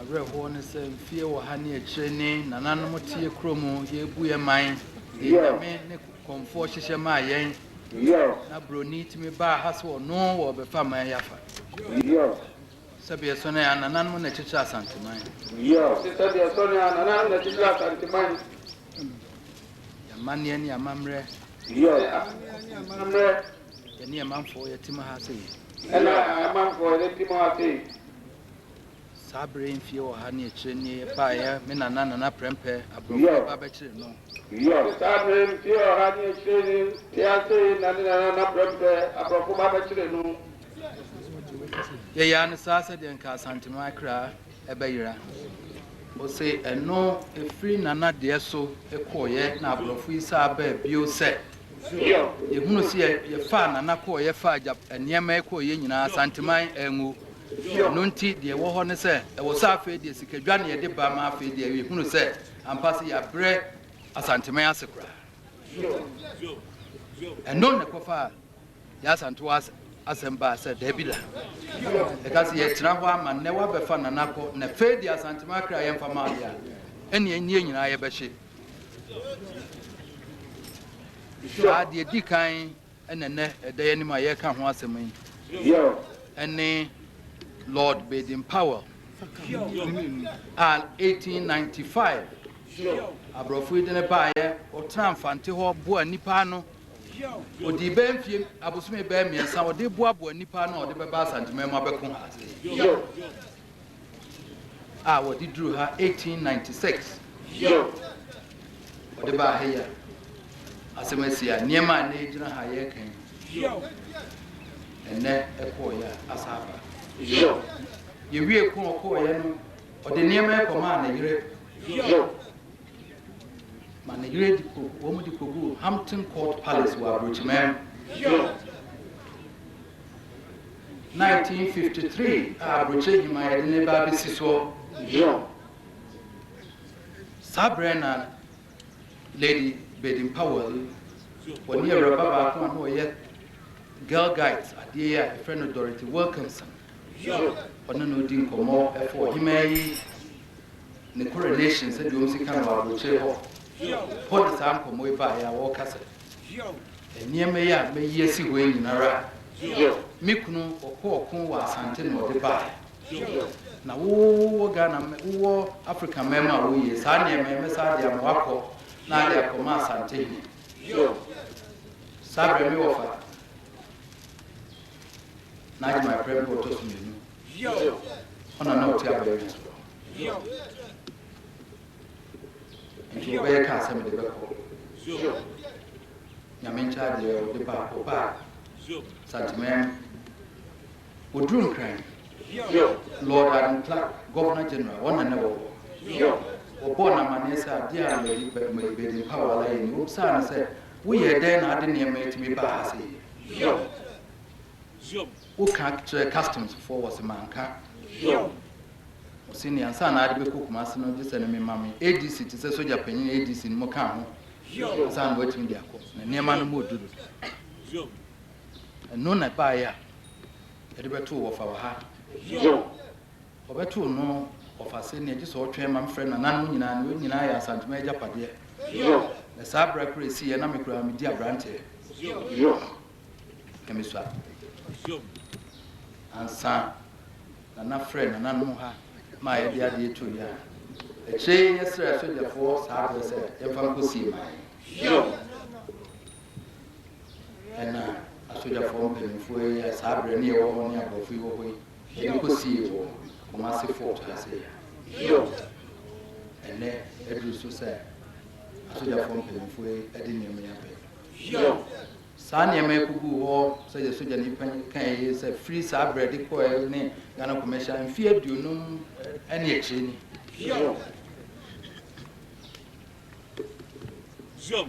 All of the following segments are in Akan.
Awerɛhoɔ ne sɛ mfeɛ wɔ ha ne akyire ne nananom teɛ kuro mu yɛrebu yɛn man de nyame ne kɔmfoɔ hyehyɛ maa yɛn na broni tumi baa ha sɛ ɔno wɔ bɛfa man yɛ afa sɛbi ɛsɔ ne a nananom na kyekyere asanteman ɔse sɛbi ɛsɔ ne a nananom na kyekyere asanteman yɛn amanneɛ ne amammerɛ Ɛne a manfoɔ yɛ te mo ha sei. Ɛne a manfoɔ yɛ te mo ha sei. Saa bere yi mfeɛ ɔha ne akyire nie baeɛ me nana Nana Prɛmpɛ aborɔfo ba bɛkyere no. Ɛne saa bere yi mfeɛ ɔha ne akyire nie te ha sei na ne nana Nana Prɛmpɛ aborɔfo ba bɛkyere no. Yɛyaa no saa sɛdeɛ nka Asantehene Akra bɛyera. Ɔse ɛno ɛfiri nana deɛ so kɔeɛ na aborɔfo yi saa baa bio sɛ. Yɛhunu sɛ yɛfaa Nana kɔɔ yɛfaa gya nneɛma kɔɔ yɛ nyinaa Santeman angu. Ɛno nti deɛ ɛwɔ hɔ ne sɛ ɛwɔ sɛ afei deɛ sikadwa na yɛde ba ma afei deɛ yɛhunu sɛ ampa sɛ yɛabrɛ Asanteman ase koraa. Ɛno na ɛkɔfaa yɛ Asantew asɛm baa sɛ daabi da. Ɛka sɛ yɛtena hɔ ama nnɛ woabɛfa Nana kɔ na afei deɛ Asanteman kra yɛmfa ma ade a ɛnneɛ nnie nyinaa yɛbɛhye. Saa deɛ ɛdi kan na ɛnnɛ ɛda yɛn anim a yɛreka ho asɛm yi ne Lord Baden Powell a 1895 aborɔfo yi de ne baeɛ ɔtena mfante hɔ boa nnipa ano ɔdii bɛɛ mfie abosome bɛɛ mmiɛnsa ɔde boaboa nnipa ano a ɔde bɛba asanteman mu abɛko ha a wɔde duru ha 1896. Yo! Wɔde baa ha yi a, asɛm asi a nneɛma a nnɛ egyina ha yɛreka yi, Yo! ɛnnɛ ɛkɔɔeɛ a asa aba. Yo! Yɛwie ko a ɔkɔɔeɛ no, ɔde nneɛma yi kɔmaa ne yere. Yo! Ma ne yere de kɔ, wɔn de kɔguu Hampton Court Palace wɔ Aburokyiman. Yo! Nineteen fifty three a aburokyire nnwuma yɛde no reba abɛsi soɔ yɔɔ. Saa berɛ na Lady Baden Powell yi, ɔne awuraba baako a na ɔyɛ girl guides adeɛ yi a yɛfrɛ no Dorothy Wilkinson, ɔne no redi nkɔmmɔ ɛfa ɔhemaa yi ne coronation sɛdeɛ wɔn si ka no wɔ aburokyire hɔ. Hɔ na saa nkɔmmɔ yi baeɛ a wɔreka sɛ. Yiɔw. Nneɛma yi a mayi asi hɔ yi nyinara. Yiɔw. Me kunu ɔkɔ ɔko wɔ Asante na ɔde baeɛ. Yiɔw. Na wo wɔ Ghana mɛ, wo wɔ Africa mɛn mu a woyie. Saa nneɛma yi mɛ saa de ama wakɔ na ade akɔ ma Asante hene. Yiɔw. Saa berɛ me wɔ fa na agye my prɛ mpo ɔtɔ so mmienu. Yiɔw. Ɔna na ɔte abayɛ nyasoɔ. Yiɔw. Nti ɔbɛyɛ kaa sɛ mede bɛkɔ Zio Nyame nkyɛ adeɛ ɔde ba ɔba Zio Santemɛm Ɔduru Nkran Zio Lord Adam Clark Governor General wɔn na na ɛwɔ hɔ Zio Ɔbɔɔ no amaneɛ sɛ adeɛ a Lady Baden Powell ayɛ ni Ɔbisaa no sɛ woyɛɛ dɛn na ade nneɛma yi tumi baa ha sei Zio Zio Wo ka kyerɛ customs foɔ wɔ se manka hwew. Wɔ se nea nsa na ade bɛkɔ Kumasi no gye sɛ no me ma me ADC te sɛ sogya panyin ADC no mo ka ho ansa na watumi de akɔ na nneɛma no mo duru ɛno na ɛbaeɛ a yɛde bɛtoo wɔfa wɔ ha wɔbɛtoo no wɔfa se nea gye sɛ ɔtwɛn ma mfrɛ nananom nyinaa no wɔn nyinaa yɛ asantuma agyapadeɛ na saa berɛ koro ɛsiiɛ na me koraa medi abranteɛ Nyamesua. Ziom. Ansa na na frɛ nananom ha ma a yɛde adeɛ to dwa. Akyire yi yɛsrɛɛ sogyafoɔ saa berɛ sɛ yɛmfa nkɔsie ma yɛn. Ziom. Ɛna asogyafoɔ mpanimfoɔ yi a saa berɛ ne yɛwɔ hɔ ne aborɔfo yi wɔ hɔ yi, yɛde kɔsiee wɔ Kumasi Fort ha sei. Ziom. Ɛnnɛ aduru so sɛ asogyafoɔ mpanimfoɔ yi de nneɛma yi abɛn. Yiw, saa nneɛma yi koguu hɔ sɛdeɛ sogyani panin kae yi sɛ firi saa berɛ de kɔeɛ ne Ghana Kɔmɛhyia mfeɛ aduonum ne akyire ni. Yiw,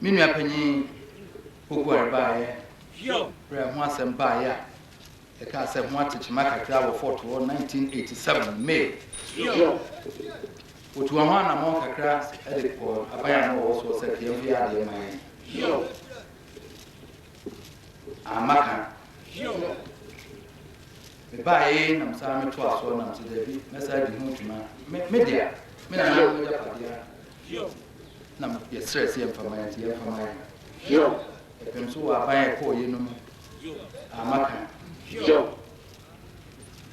me nua panin Poku Ware baeɛ berɛ a ɛho asɛm baeɛ a. Yɛkaa sɛ ho ate kyema kakra wɔ Fort hɔ 1987 May. Wɔtua ho anammɔn kakra de kɔ aban a na wɔwɔ soɔ sɛ ka yɛmfa yɛ adeɛ mma yɛn. Amma ka. Mebaeɛ nam saa metoa soɔ nam sɛ daabi mɛsa di ho dwuma. Me, me dea, me nananom agyapadeɛ na yɛsrɛ sɛ yɛmfa ma yɛn nti yɛmfa ma yɛn. Yɛpem so wɔ aban a ɛkɔɔ yɛ no mu. a maka Hiob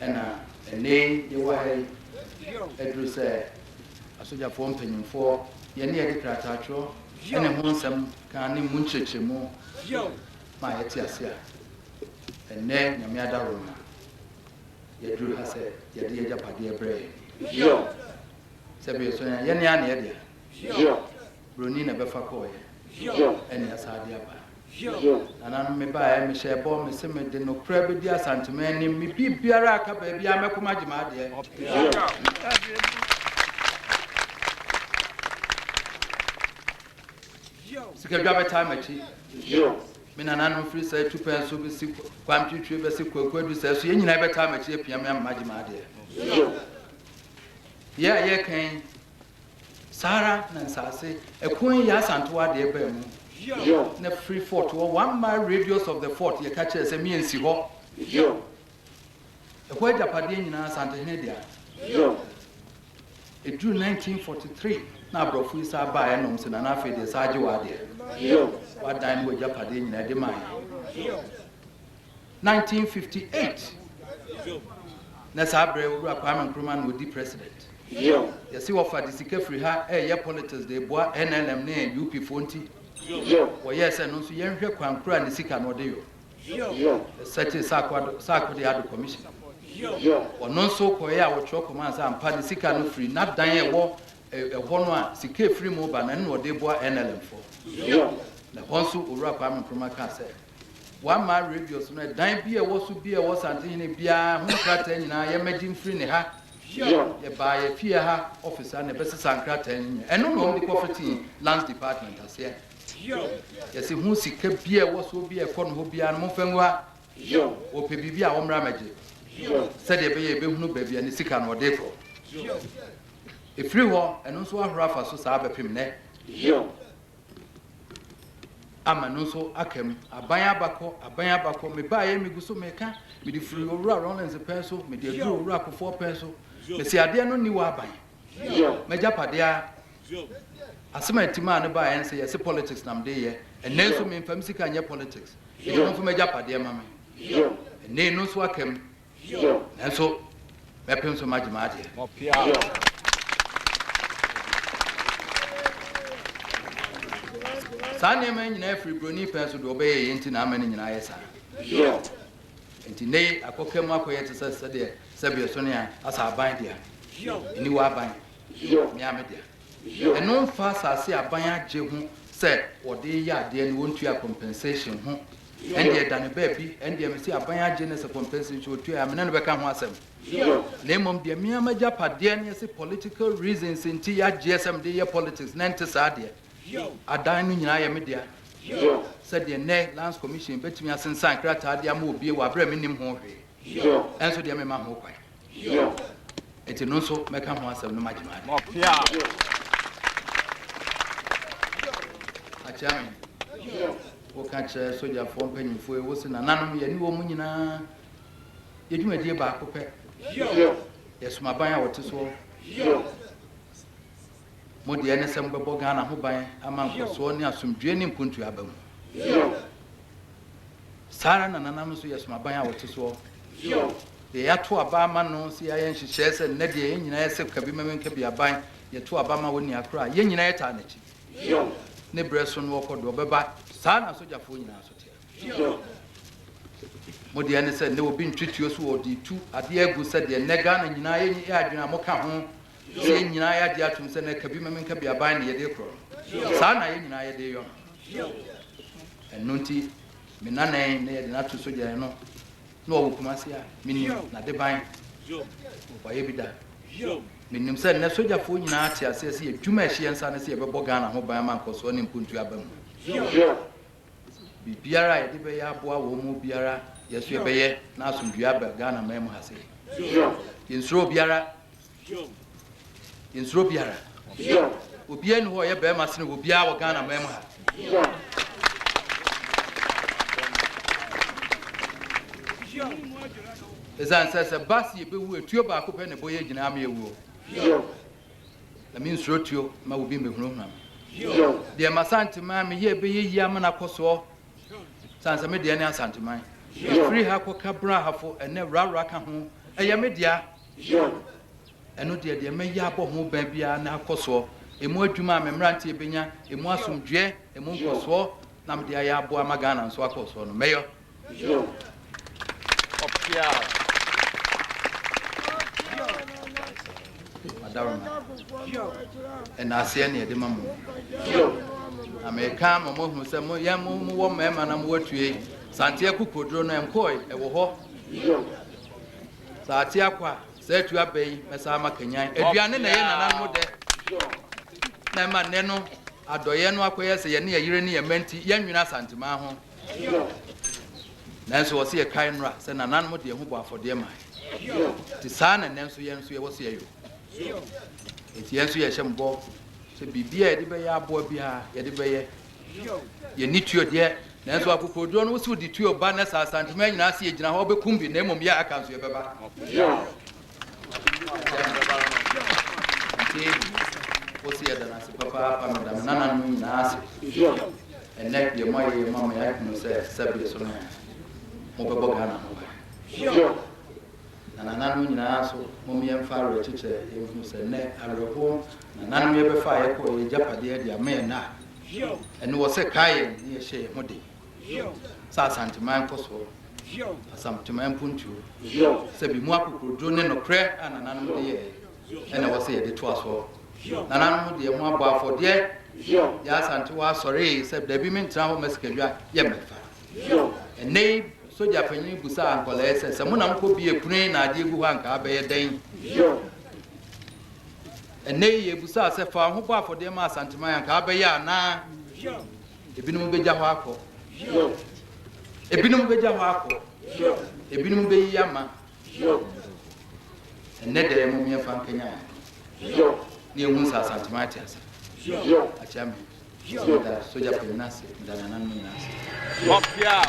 na ɛnnɛyi yɛwɔ ha yi aduru sɛ asogyafoɔ mpanyimfoɔ yɛ ne yɛde krataatwerɛ ne ho nsɛm kaa ne mu nkyerɛkyerɛmu ma yɛte ase a ɛnnɛ Nyame adaworo ma yɛduru ha sɛ yɛde yɛgyapadeɛ brɛ yɛn sɛ bɛyɛ so yɛne a na yɛdea broni na bɛfa kɔɔyɛ ɛne asaade aba Hiob. Nananom, mebaeɛ, mehyɛɛ bɔ, mese mede nokorɛ bɛdi Asanteman anim, me biribiara a ɛka baabiara mɛko magye m'adeɛ. Hiob. Sikadwa bɛtaa m'akyi. Hiob. Me nananom firi sɛ atupɛn so bɛsi kwan twitwi bɛse kwakuadu sɛ so yɛn nyinaa bɛtaa m'akyi apia me ama magye m'adeɛ. Hiob. Yɛ a yɛka yi Saa ara na nsaase ɛko yi asantow adeɛ baa mu. Yo. Na firi fort hɔ one mile radius of the fort yɛka kyerɛɛ sɛ me nsi hɔ. Yo. Ɛhɔ agyapadeɛ nyinaa Asantehene dea. Yo. Ɛduru 1943 na aborɔfo yi saa baeɛ na wɔn se Nana afei deɛ saa agye w'adeɛ. Yo. W'adan ne w'agyapadeɛ nyinaa ɛde ma yɛn. Yo. 1958 na saa berɛ Owura Kwame Nkrumah na ɔdi President. Yɛse wɔfa de sika firi ha reyɛ politics de reboa NLM ne NUP foɔ nti wɔyɛɛ sɛ no nso yɛnhwɛ kwan kura ne sika no ɔde yɔ. Yɛsɛtee Sarko de Ado Commission. Ɔno nso kɔeɛ a ɔtwerɛ kɔmaa sɛ ampa ne sika no firi n'adan a ɛwɔ ɛhɔ no a sika a ɛfiri mu reba no ɛno na ɔde reboa NLM foɔ. Na ɛhɔ nso Owura Kwame Nkrumah kaa sɛ. Wama Radius no ɛdan bi a ɛwɔ so bi a ɛwɔ Santehene biara ho nkrataa nyinaa yɛ mmɛgye mfiri ne ha. Yɛbaa yɛ fie ha office ha na ɛbɛsesa nkrataa no nyinaa. Ɛno na wɔde kɔfetee Lands Department aseɛ. Yɛse ho sika bi a ɛwɔ soɔ bi a ɛkɔ no hɔ biara no momfa ngu ha. Wɔpɛ biribi a wɔmmra mmɛgye sɛdeɛ ɛbɛyɛ yɛbɛhunu baabi a ne sika no ɔde kɔ. Ɛfiri hɔ, ɛno nso ahoro afa so saa bɛpem nnɛ. Ama no nso aka mu. Aban aba kɔ, aban aba kɔ, me baeɛ megu so meka, mede firi Owura Rawlings pɛn so, mede aduru Owura Kufour pɛn so, mese adeɛ no nni w'aban, m'agyapadeɛ ara, asem a Timaa no baeɛ nse yɛse politics na mede yɛ, ɛnnɛ nso memfa me sika nyɛ politics, ɛyɛ ɔmfa m'agyapadeɛ ma me, ɛnnɛ eno nso aka mu. Nanso mɛpem so magye m'adeɛ. Saa nneɛma yi nyinaa firi buroni pɛn so deɛ ɔbɛyɛ yɛ nti na ama ne nyinaa yɛ saa. Nti nnɛ yi akɔka mu akɔyɛ te sɛ sɛdeɛ sɛbeɛ so ne a asa aban dea, aniwa aban, mmeame dea. Ɛno mfa asase a aban agye ho sɛ wɔde reyɛ adeɛ no wɔntua compensation ho. Ɛndeɛ da no baabi, ɛndeɛ mese aban agye no sɛ compensation nso wɔtua a me ne no bɛka ho asɛm. Na mmom deɛ me ara m'agyapadeɛ no yɛse political reasons nti yɛagyeɛ sɛ mede yɛ politics na ɛnte saa deɛ, adan no nyinaa yɛ me dea. Sɛdeɛ nnɛ Lands Commission bɛtumi asensan krataa de ama obie wɔ aberɛ a mennim ho hwee. Nso deɛ mema ho kwan. Enti no nso mɛka ho asɛm no magye m'ade. Akyea me. Woka kyerɛ sogyafoɔ mpanyimfoɔ yi, wose nananom yɛne wɔn nyinaa yɛ dwumadie baako pɛ. Yɛsom aban a wɔte soɔ. Mo deɛ ɛne sɛ mobɛbɔ Ghana ho ban ama nkɔsoɔ ne asomdwoeɛ ne mpuntuo aba mu. Saa ara na nananom nso yɛ som aban a wɔte soɔ. Deɛ yɛato aba ama no sɛ yɛayɛ nhyehyɛeɛ sɛ nnɛ deɛ yɛn nyinaa yɛ sɛ ka bi ma menka bi aban, yɛto aba ma ɔnni ha koraa a, yɛn nyinaa yɛtaa n'akyi. Ne berɛ so no ɔkɔ do, ɔbɛba. Saa na asogyafoɔ nyinaa nso teɛ. Mo deɛ ɛne sɛ nnɛ obi ntwetuo so ɔde retu adeɛ agu sɛ deɛ nnɛ Ghana nyinaa yɛ adwene a moka ho Sɛ yɛn nyinaa yɛagye atom sɛ na kabi meme nkabi aban na yɛde korɔ no, saa ara na yɛn nyinaa yɛde reyɔ no. Ɛno nti, me nanan na yɛde no ato sogyani no na ɔwɔ Kumasi a, menim n'adeban boayɛ bi da. Menim sɛ nnɛ sogyafoɔ nyinaa te aseɛ sɛ yɛadwuma a ɛhyɛ yɛn nsa ne sɛ yɛbɛbɔ Ghana ho ban ama nkɔsoɔ ne mpontuo aba mu. Biribiara a yɛde bɛyɛ aboa wɔn biara yɛn nso yɛbɛyɛ na asomdwoeɛ aba Ghanaman mu ha sei. Yɛnsuro obiara. Hioom. Yɛnsuro obiara. Hioom. Obiara nni hɔ a ɔyɛ barima sene obiara wɔ Ghana man mu ha. Hioom. Ɛsiane sɛ sɛ ɛba sɛ yɛbɛwu a, tuo baako pɛ na ɛbɔ yɛn gyinaa ma yɛwuo. Hioom. Na mensuro tuo ma obi mmɛhunahuna me. Hioom. Deɛ m'Asanteman meyɛɛ bɛyɛ yie ama no akɔ soɔ. Ɛsiane sɛ me deɛ ne Asanteman. Hioom. Ɛfiri ha kɔka Brahafo, ɛnnɛ Rarah ka ho, ɛyɛ me dea. Yoh. Ɛno deɛ, deɛ mɛyɛ abɔ ho ban biara ne akɔ soɔ ɛmu adwuma a me mmeranteɛ bɛnya ɛmu asomdwoeɛ, ɛmu nkɔsoɔ na mede ayɛ aboa ama Ghana nso akɔ soɔ no, mɛyɔ. Yoh. Ɔpeaw. Adaworoma. Yoh. Ɛnaaseɛ ne ɛde ma mo. Yoh. Na meka ma moahunu sɛ mo yɛn mo mowɔ mmarima na mowɔ atue. Santeɛ kokoduro no ɛnkɔɔe, ɛwɔ hɔ. Yoh. Sɛ ate akɔ a, saa atu aba yi bɛsan ama kanyan. Aduane na ɛyɛ nananom dɛ na ɛma nnɛ no adɔeɛ no akɔyɛ sɛ yɛne yɛn yere ne yɛn mma nti yɛnnwene Asanteman ho. Nanso wɔse yɛkae nnora sɛ nananom de yɛn ho bɔɔ afɔdeɛ mae. Nti saa na nnɛ nso yɛn nso yɛwɔ sɛ yɛyɔ. Nti yɛn nso yɛhyɛ mo bɔ sɛ biribiara a yɛde bɛyɛ aboa biara yɛde bɛyɛ Yɛnni tuo deɛ, nanso akokoɔduro no, wo se wode tuo ba na sɛ Asantehene nyinaa ase yɛgyina hɔ a wobɛkum bi, na mmom yɛ a aka nso yɛbɛba. Nti wo se yɛda no ase papaapa, meda me nananom nyinaa ase. Ɛnnɛ deɛ moayɛ yi ama me ahunu sɛ Sɛbeɛ so no ɛ, mobɛbɔ Ghana ho ban. na nananom nyinaa nso, mom yɛmfa awerɛkyekyɛ nhu sɛ nnɛ awerɛhoɔ mu na nananom yɛbɛfa a yɛkɔɔ yɛn agyapadeɛ de ama yɛn a ɛne wɔ sɛ kae yɛn ne yɛhyɛ yɛn ho den sɛ Asanteman nkɔsoɔ, Asamteman mpontuo, sɛ bi mu akokoroduro ne nokorɛ a nananom de yɛɛ ɛna ɛwɔ sɛ yɛde toa soɔ. Nananom de yɛn ho abɔ afɔdeɛ, yɛ Asantewa asɔree sɛ dabi mentra hɔ mma sikadwa yɛ mmɛmfa. Hiob. Ɛnnɛ yi, sogya panyin bisaa nkwadaa yi sɛ, Sɛ mo na mokɔ bea a ɛpono yi na adeɛ gu hɔ a, anka abɛyɛ dɛn? Hiob. Ɛnnɛ yi, yɛbisa sɛ, Fa wo ho bɔ afɔdeɛ ma Asanteman, anka abɛyɛ anaa? Hiob. Ebinom bɛgya hɔ akɔ. Hiob. Ebinom bɛgya hɔ akɔ. Hiob. Ebinom bɛyi ama. Hiob. Ɛnnɛ da yi, mom yɛmfa nkanyan. Hiob. Ne yɛhu sɛ Asanteman ate ase. Hiob. Akyɛ me. Sogya da sogya panyin ase da nananom nyinaa ase. Wɔpeaw!